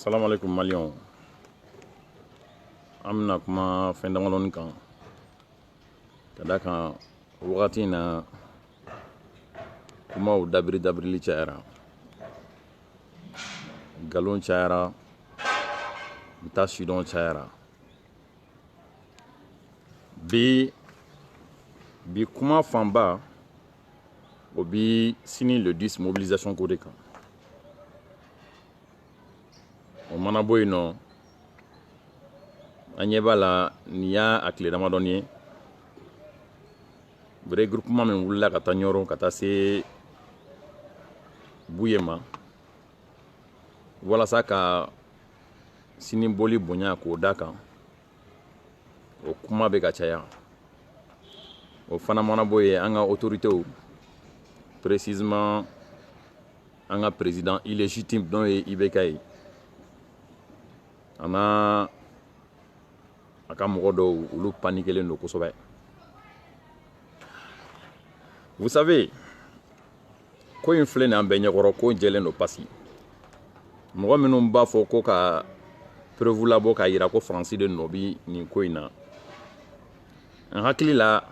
salaamaaleykum maliyɛnw an bɛna kuma fɛn damadɔni kan ka da kan wagati in na kumaw dabiri dabirili cayara nkalon cayara n t'a sidɔn cayara bi bi kuma fanba o bi sini le 10 mobilisation ko de kan o mana bɔ yen nɔ an ɲɛ b'a la nin y'a tile damadɔni ye regroupement min wulila ka taa ɲɔrɔn ka taa se buye ma walasa ka sini boli bonya k'o da kan o kuma bɛ ka caya o fana mana bɔ yen an ka otoritew précisément an ka président illégitime n'o ye ibk ye a n'a a ka mɔgɔ dɔw olu panikelen don kosɛbɛ vous savez ko in filɛ nin an bɛɛ ɲɛkɔrɔ ko jɛlen don pasi mɔgɔ minnu b'a fɔ ko ka preuve labɔ k'a yira ko faransi de nɔ bi nin ko in na n hakili la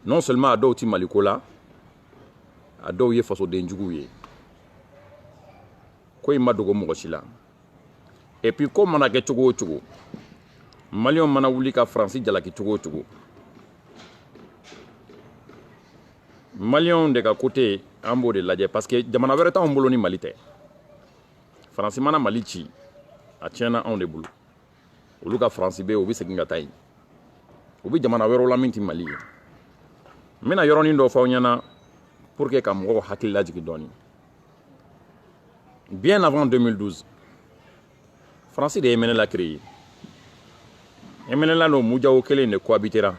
non seulement a dɔw ti maliko la a dɔw ye fasoden juguw ye ko in ma dogo mɔgɔ si la epi ko mana kɛ cogo o cogo maliyɛnw mana wuli ka faransi jalaki cogo o cogo maliyɛnw de ka kote an b'o de lajɛ parce que jamana wɛrɛ t'anw bolo ni mali tɛ faransi mana mali ci a tiɲɛna anw de bolo olu ka faransi bɛ yen u bɛ segin ka taa yen u bɛ jamana wɛrɛw la min tɛ mali ye n bɛna yɔrɔnin dɔ fɔ aw ɲɛna pour que ka mɔgɔw hakili lajigin dɔɔnin Bien avant 2012, Fransi de ye MNLA créé. MNLA ni MUJAO kelen de cohabitera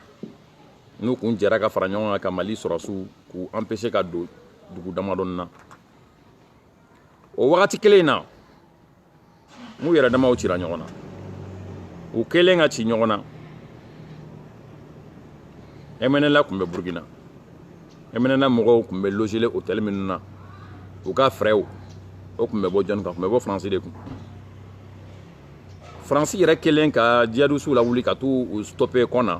n'u kun jɛra ka fara ɲɔgɔn kan ka Mali sɔrɔsiw k'u empêcher ka don dugu damadɔni na. O wagati kelen in na n'u yɛrɛ damaw cira ɲɔgɔn na u kɛlen ka ci ɲɔgɔn na mnla tun bɛ burukina mnla mɔgɔw tun bɛ logelen hôtel minnu na u ka fraisw o tun bɛ bɔ jɔni kun tun bɛ bɔ faransi de kun faransi yɛrɛ kɛlen ka jihadisiw lawuli ka t'u stoppe kɔnna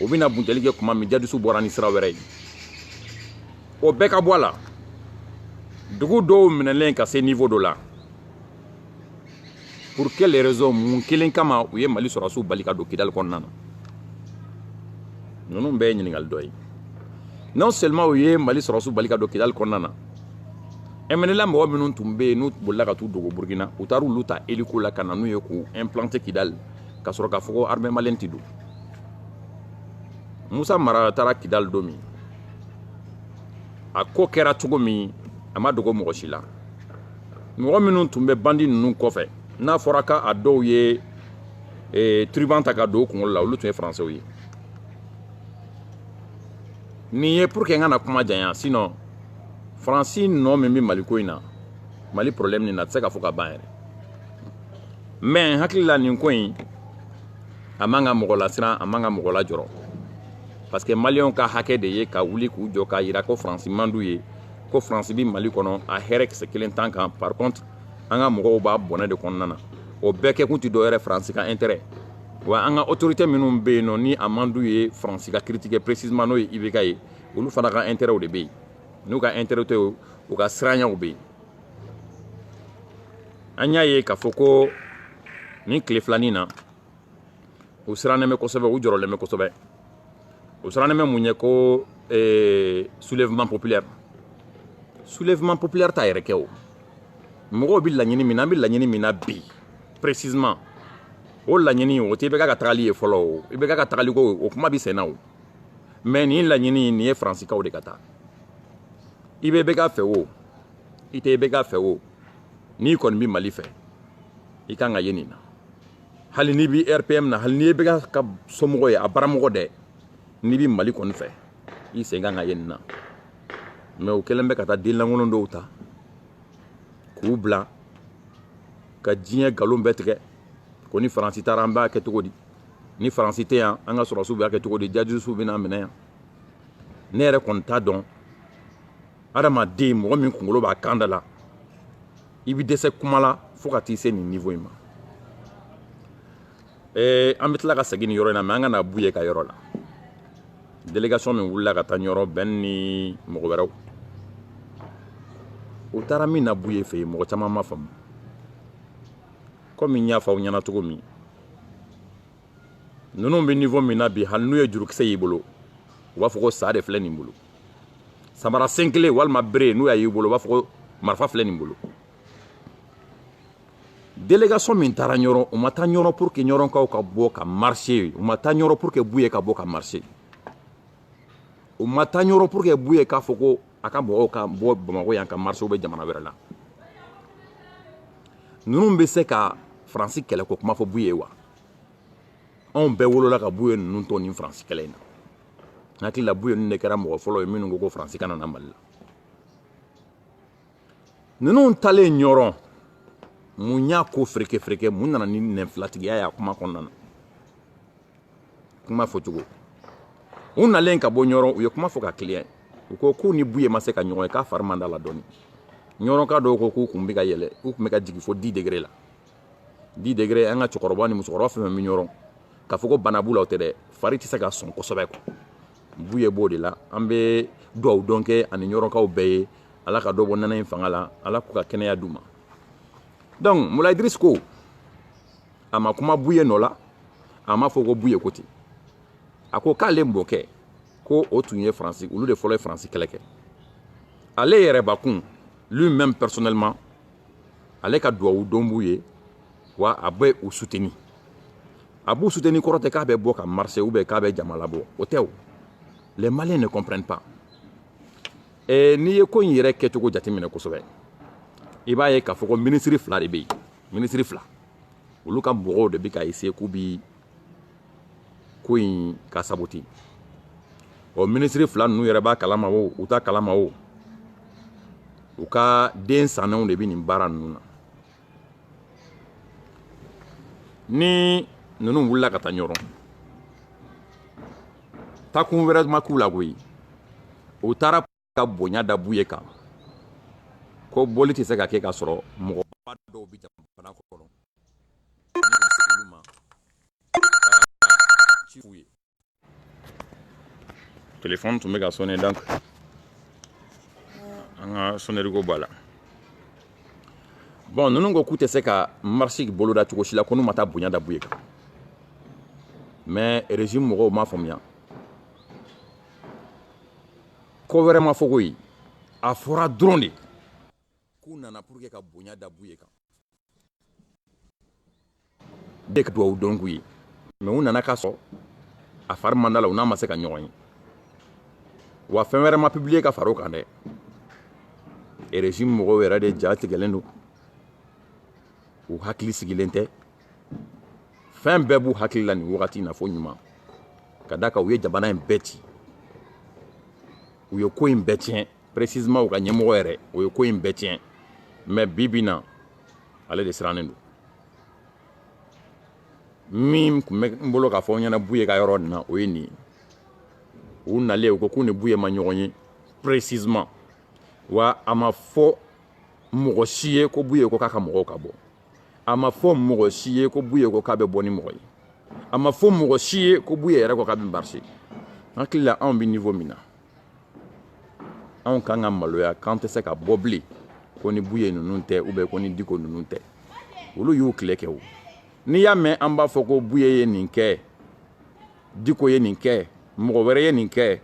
o bɛna buntɛli kɛ kuma min djihadistes bɔra ni sira wɛrɛ ye o bɛɛ ka bɔ a la dugu dɔw minɛlen ka se niveau dɔ la pour quelle raison mun kelen kama u ye mali sɔrɔsiw bali ka don kidali kɔnɔna na ninnu bɛɛ ye ɲininkali dɔ ye non seulement u ye mali sɔrɔsiw bali ka don kidali kɔnɔna na mnla mɔgɔ minnu tun bɛ yen n'u bolila ka t'u dogo burukina u taara olu ta hélico la ka na n'u ye k'u implanter kidali ka sɔrɔ k'a fɔ ko armée malienne tɛ don musa mara taara kidali don min a ko kɛra cogo min a ma dogo mɔgɔ si la mɔgɔ minnu tun bɛ bandi ninnu kɔfɛ n'a fɔra k'a dɔw ye eh, turban ta ka don u kunkolo la olu tun ye faransɛw ye nin ye pour que n kana kuma janya sinon faransi nɔ min bɛ mali ko in na mali problème nin na a tɛ se ka fɔ ka ban yɛrɛ mais n hakili la nin ko in a man ka mɔgɔ lasiran a man ka mɔgɔ lajɔrɔ parce que maliyɛnw ka hakɛ de ye ka wuli k'u jɔ k'a yira ko faransi man d'u ye ko faransi bi mali kɔnɔ a hɛrɛ kisɛ kelen t'an kan par contre an ka mɔgɔw b'a bɔnɛ de kɔnɔna na o bɛɛ kɛkun tɛ dɔwɛrɛ faransi ka intérêt wa an ka autorité minnu bɛ yen nɔ ni a man d'u ye faransi ka critiquer précisément n'o ye ibk ye olu fana ka intérêtw de bɛ yen n'u ka intérêt tɛ o u ka siranyaw bɛ yen an y'a ye k'a fɔ ko nin tile filanin na u sirannen bɛ kosɛbɛ u jɔrɔlen bɛ kosɛbɛ u sirannen bɛ mun ye ko eh, soulèvement populaire soulèvement populaire t'a yɛrɛ kɛ o mɔgɔw bɛ laɲini min na an bɛ laɲini min na bi précisément o laɲini o tɛ ibk ka tagali ye fɔlɔ o ibk ka tagali ko o kuma bɛ senna o mais nin laɲini nin ye faransikaw de ka taa i bɛ ibk fɛ o i tɛ ibk fɛ o n'i kɔni bɛ mali fɛ i kan ka ye nin na hali n'i bɛ rpm na hali n'i ye ibk somɔgɔ ye a baramɔgɔ dɛ n'i bɛ mali kɔni fɛ i sen kan ka ye nin na mais u kɛlen bɛ ka taa den lankolon dɔw ta k'u bila ka diɲɛ nkalon bɛɛ tigɛ ko ni faransi taara an b'a kɛ cogo di ni faransi tɛ yan an ka sɔrɔsiw b'a kɛ cogo di djihadistes bɛna minɛ yan ne yɛrɛ kɔni t'a dɔn adamaden mɔgɔ min kunkolo b'a kan da la i bɛ dɛsɛ kuma la fo ka t'i se nin niveau in ma ee an bɛ tila ka segin nin yɔrɔ in na mais an ka na buye ka yɔrɔ la délégation min wulila ka taa ɲɔrɔ ben ni mɔgɔ wɛrɛw u taara min na buye fɛ yen mɔgɔ caman ma faamu komi n y'a fɔ aw ɲɛna cogo min ninnu bɛ niveau min na bi hali n'u ye jurukisɛ y'i bolo u b'a fɔ ko sa de filɛ nin bolo samara sen kelen walima bere n'u y'a y'i bolo u b'a fɔ ko marifa filɛ nin bolo délégation min taara ɲɔrɔn u ma taa ɲɔrɔn pour que ɲɔrɔnkaw ka bɔ ka marcher u ma taa ɲɔrɔn pour que buye ka bɔ ka marcher u ma taa ɲɔrɔn pour que buye k'a fɔ ko a ka mɔgɔw ka bɔ bamakɔ yan ka marcher u bɛ jamana wɛrɛ la ninnu bɛ se ka faransi kɛlɛ ko kuma fɔ buye ye wa anw bɛɛ wolola ka buye ninnu to nin faransi kɛlɛ in na n hakili la buye ninnu de kɛra mɔgɔ fɔlɔ ye minnu ko ko faransi kana na mali la ninnu taalen ɲɔrɔn mun y'a ko fereke fereke mun nana ni nɛnfilatigiya y'a kuma kɔnɔna na kuma fɔcogo u nalen ka bɔ ɲɔrɔn u ye kuma fɔ ka kiliya u ko k'u ni buye ma se ka ɲɔgɔn ye k'a fari man d'a la dɔɔni ɲɔrɔnka dɔw ko k'u kun bɛ ka yɛlɛ u kun bɛ ka jigin fo dix degrés la dix degrés an ka cɛkɔrɔba ni musokɔrɔba fɛn o fɛn bɛ ɲɔrɔn k'a fɔ ko bana b'u la o tɛ dɛ fari tɛ se ka sɔn kosɛbɛ quoi buye b'o de la an bɛ duwawudon kɛ a ni ɲɔrɔnkaw bɛɛ ye ala ka dɔ bɔ nɛnɛ in fanga la ala k'u ka kɛnɛya d'u ma donc moulaye idriss ko a ma kuma buye nɔ la a m'a fɔ ko buye ko ten a ko k'ale mɔkɛ ko o tun ye faransi olu de fɔlɔ ye faransi kɛlɛ kɛ ale yɛrɛbakun lui-même personnellement ale ka duwawudon b'u ye wa a bɛ u suteni a b'u suteni kɔrɔ tɛ k'a bɛ bɔ ka marcher ou bien k'a bɛ jama labɔ o tɛ o les maliens ne comprennent pas eh, n'i ye ko in yɛrɛ kɛcogo jateminɛ kosɛbɛ i b'a ye k'a fɔ ko minisiri fila de bɛ yen minisiri fila olu ka mɔgɔw de bɛ ka essayer k'u bi ko in ka saboter ɔ minisiri fila ninnu yɛrɛ b'a kalama o u t'a kalama o u ka den sannenw de bɛ nin baara ninnu na ni ninnu wulila ka taa ɲɔrɔn taakun wɛrɛ ma k'u la koyi u taara ka bonya da buye kan ko boli tɛ se ka kɛ k'a sɔrɔ mɔgɔ dɔw bɛ jamana kɔnɔ u ma ci f'u ye telefɔni tun bɛ ka sonner donc an ka sonnerie ko b'a la bon ninnu ko k'u tɛ se ka marche boloda cogo si la ko n'u ma taa bonya da buye kan mais régime mɔgɔw m'a faamuya ko wɛrɛ ma fɔ koyi a fɔra dɔrɔn de k'u nana pour que ka bonya da buye kan de ka duwawudon k'u ye mais u nana k'a sɔrɔ a fari man d'a la u n'a ma se ka ɲɔgɔn ye wa fɛn wɛrɛ ma publier ka far'o kan dɛ régime mɔgɔw yɛrɛ de ja tigɛlen don u hakili sigilen tɛ fɛn bɛɛ b'u hakili la nin wagati in na fo ɲuman ka d'a kan u ye jamana in bɛɛ ci u ye ko in bɛɛ tiɲɛ précisément u ka ɲɛmɔgɔ yɛrɛ o ye ko in bɛɛ tiɲɛ mais bi bi na ale de sirannen don min tun bɛ n bolo k'a fɔ n ɲɛna buye ka yɔrɔ nin na o ye nin ye u nalen u ko k'u ni buye ma ɲɔgɔn ye précisément wa a ma fɔ mɔgɔ si ye ko buye ko k'a ka mɔgɔw ka bɔ a ma fɔ mɔgɔ si ye ko buye ko k'a bɛ bɔ ni mɔgɔ ye a ma fɔ mɔgɔ si ye ko buye yɛrɛ ko k'a bɛ marcher n hakili la anw bɛ niveau min na anw kan ka maloya k'an tɛ se ka bɔ bilen ko ni buye ninnu tɛ ou bien ko ni diko ninnu tɛ olu y'u tile kɛ o n'i y'a mɛn an b'a fɔ ko buye ye nin kɛ diko ye nin kɛ mɔgɔ wɛrɛ ye nin kɛ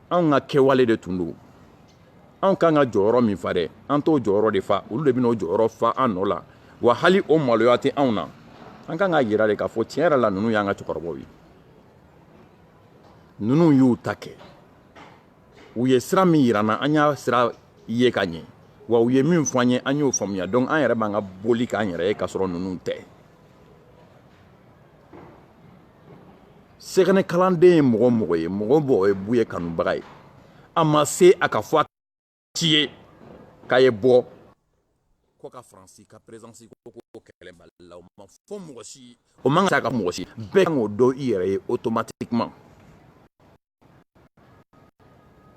anw ka kɛwale de tun don anw ka kan ka jɔyɔrɔ min fa dɛ an t'o jɔyɔrɔ de fa olu de bɛna o jɔyɔrɔ fa an nɔ la wa hali o maloya tɛ anw na an kan k'a yira de k'a fɔ tiɲɛ yɛrɛ la ninnu y'an ka cɛkɔrɔbaw ye ninnu y'u ta kɛ u ye sira min yira an na an y'a sira ye ka ɲɛ wa u ye min fɔ an ye an y'o faamuya donc an yɛrɛ b'an ka boli k'an yɛrɛ ye k'a sɔrɔ ninnu tɛ sɛgɛnɛ kalanden ye mɔgɔ o mɔgɔ ye mɔgɔ o mɔgɔ ye buye kanubaga ye a ma se a k'a fɔ a si ye k'a ye bɔ ko ka faransi ka présence ko ko kɛlɛ mali la o ma fɔ mɔgɔ si o man kan ka mɔgɔ si bɛɛ kan k'o dɔn i yɛrɛ ye automatiquement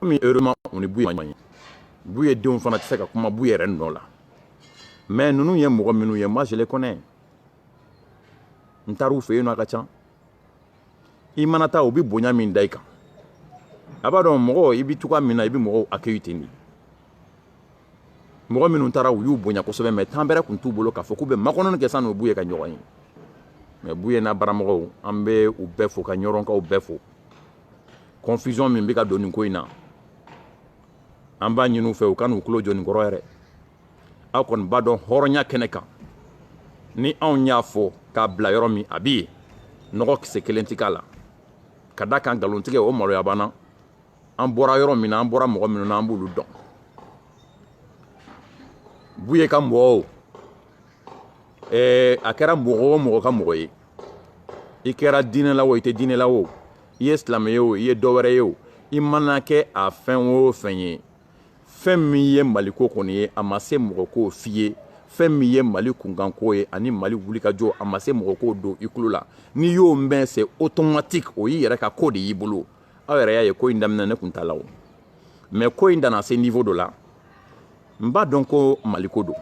komi heureusement u ni buye ma ɲɔgɔn ye buye denw fana tɛ se ka kuma buye yɛrɛ nɔ la mais ninnu ye mɔgɔ minnu ye moi je les connais n taar'u fɛ yen nɔ a ka ca i mana taa u bɛ bonya min da i kan a b'a dɔn mɔgɔ i bɛ cogoya min na i bɛ mɔgɔw accueillir ten de mɔgɔ minnu taara u y'u bonya kosɛbɛ mais temps bɛrɛ tun t'u bolo k'a fɔ k'u bɛ makɔnɔni kɛ san'u buye ka ɲɔgɔn ye mais buye n'a baramɔgɔw an bɛ u bɛɛ fo ka ɲɔrɔnkaw bɛɛ fo confusion min bɛ ka don nin ko in na an b'a ɲini u fɛ u kan'u tulo jɔ nin kɔrɔ yɛrɛ aw kɔni b'a dɔn hɔrɔnya kɛnɛ kan ni anw y'a fɔ k'a bila yɔrɔ min a bɛ yen nɔgɔ kisɛ kelen tɛ k'a la ka d'a kan nkalontigɛ o maloya b'an na an bɔra yɔrɔ min na an bɔra mɔgɔ minnu na an b'olu dɔn buye ka mɔgɔ o ɛɛ a kɛra mɔgɔ o mɔgɔ ka mɔgɔ ye i kɛra diinɛ la o i tɛ diinɛ la o i ye silamɛ ye o i ye dɔ wɛrɛ ye o i mana kɛ a fɛn o fɛn ye fɛn min ye maliko kɔni ye a ma se mɔgɔ k'o f'i ye fɛn min ye mali kunkanko ye ani mali wulikajɔ a ma se mɔgɔ k'o don i tulo la n'i y'o mɛn c'est automatique o y'i yɛrɛ ka ko de y'i bolo aw yɛrɛ y'a ye ko in daminɛ ne kun t'a la o mais ko in nana se niveau dɔ la n b'a dɔn ko maliko don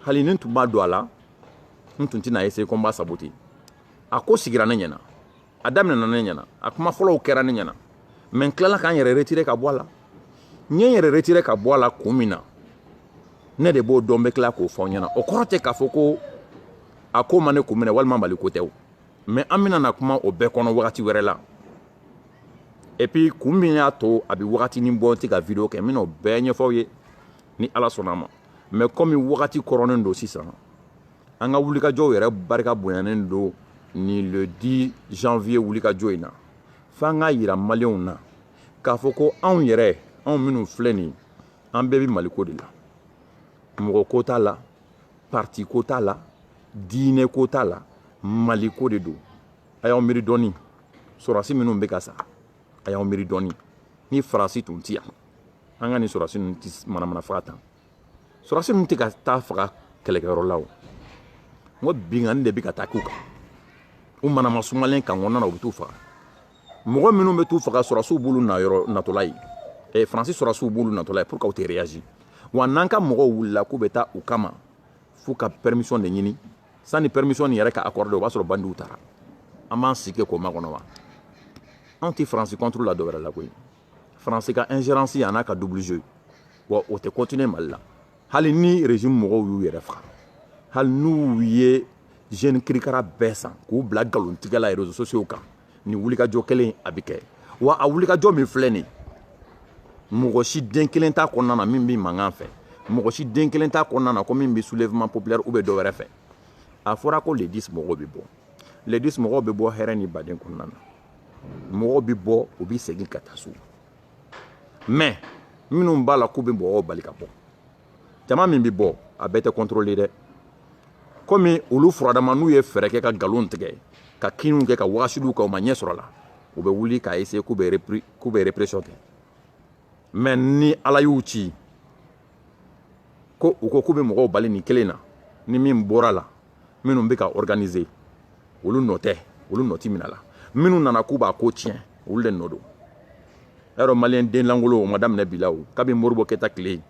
hali ni n tun b'a don a la n tun tɛna essayer ko n b'a saboter a ko sigira ne ɲɛna a daminɛna ne ɲɛna a kuma fɔlɔw kɛra ne ɲɛna mais n tilala ka n yɛrɛ retirer ka bɔ a la n ye n yɛrɛ retirer ka bɔ a la kun min na ne de b'o dɔn n bɛ tila k'o fɔ ɲɛna o kɔrɔ tɛ k'a fɔ ko a ko ma ne kun minɛ walima maliko tɛ o mais an bɛna na kuma o bɛɛ kɔnɔ wagati wɛrɛ la et puis kun min y'a to a bɛ wagatinin bɔ n tɛ ka video kɛ n bɛna o bɛɛ ɲɛfɔ aw ye ni ala sɔnna a ma mais comme wagati kɔrɔnen don sisan An ka wulikajɔw yɛrɛ barika bonyanen don ni le 10 janvier wulikajɔ in na, f'an k'a yira maliyɛnw na k'a fɔ ko anw yɛrɛ, anw minnu filɛ nin, an bɛɛ bɛ Maliko de la, mɔgɔ ko t'a la, parti ko t'a la, diinɛ ko t'a la, Maliko de don. A y'aw miiri dɔɔni, sɔrɔdasi minnu bɛ ka sa, a y'aw miiri dɔɔni, ni Faransi tun tɛ yan, an ka nin sɔrɔdasi ninnu tɛ manamana faga tan. sɔrɔsi ninnu tɛ ka taa faga kɛlɛkɛyɔrɔ la o n ko binkanni de bɛ ka taa k'u kan u mana ma sumalen kan kɔnɔna na u bɛ t'u faga mɔgɔ minnu bɛ t'u faga sɔrɔsiw b'olu na yɔrɔ natɔla ye eh, faransi sɔrɔsiw b'olu natɔla ye pour que u tɛ réagir wa n'an ka mɔgɔw wulila k'u bɛ taa u kama f'u ka permission de ɲini sanni permission nin yɛrɛ ka accorder o b'a sɔrɔ bandiw taara an b'an sigi k'o makɔnɔ wa anw tɛ faransi contre la dɔwɛrɛ la koyi Faransi ka ingérence a n'a ka double jeu wa o tɛ continuer Mali la hali ni régime mɔgɔw y'u yɛrɛ faga hali n'u ye jeune kirikara bɛɛ san k'u bila nkalontigɛ la réseaux sociaux kan nin wulikajɔ kelen a bɛ kɛ wa a wulikajɔ min filɛ nin mɔgɔ si den kelen t'a kɔnɔna na min bɛ mankan fɛ mɔgɔ si den kelen t'a kɔnɔna na ko min bɛ soulèvement populaire ou bien dɔwɛrɛ fɛ a fɔra ko le 10 mɔgɔw bɛ bɔ le 10 mɔgɔw bɛ bɔ hɛrɛ ni baden kɔnɔna na mɔgɔw bɛ bɔ u bɛ segin ka taa so mais minnu b'a la k'u bɛ mɔgɔw bali ka bɔ jama min bɛ bɔ a bɛɛ tɛ contrôler dɛ komi olu furadama n'u ye fɛɛrɛ kɛ ka nkalon tigɛ ka kinniw kɛ ka wagasiliw kɛ u ma ɲɛ sɔrɔ a la u bɛ wuli k'a essayer k'u bɛ répression kɛ mais ni ala y'u ci ko u ko k'u bɛ mɔgɔw bali nin kelen na ni min bɔra la minnu bɛ k'a organiser olu nɔ tɛ olu nɔ tɛ minɛ la minnu nana k'u b'a ko tiɲɛ olu de nɔ don y'a dɔn maliyɛn den lankolon o ma daminɛ bi la o kabini modibo keyita tile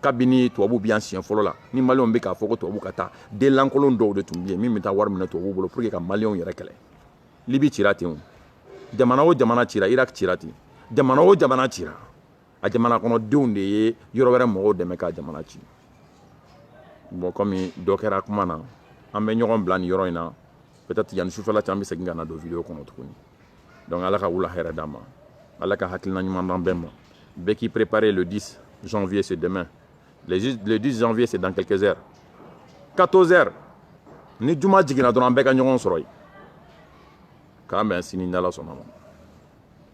kabini tubabu bɛ yan siɲɛ fɔlɔ la ni maliyɛnw bɛ k'a fɔ ko tubabu ka taa den lankolon dɔw de tun bɛ yen min bɛ taa wari minɛ tubabu bolo pour que ka maliyɛnw yɛrɛ kɛlɛ libi cira ten o jamana o jamana cira irak cira ten jamana o jamana cira a jamana kɔnɔdenw de ye yɔrɔ wɛrɛ mɔgɔw dɛmɛ ka jamana ci bon kɔmi dɔ kɛra kuma na an bɛ ɲɔgɔn bila nin yɔrɔ in na peut-être yanni sufɛla cɛ an bɛ segin ka na don video kɔnɔ tuguni donc ala ka wula hɛrɛ d'an ma ala ka hakilina ɲuman d'an bɛɛ ma bɛɛ k'i préparer le 10 janvier c'est demain le 10 janvier c'est dans quelques heures 14 heures ni juma jiginna dɔrɔn an bɛɛ ka ɲɔgɔn sɔrɔ yen k'an bɛn sini n'ala sɔnna ma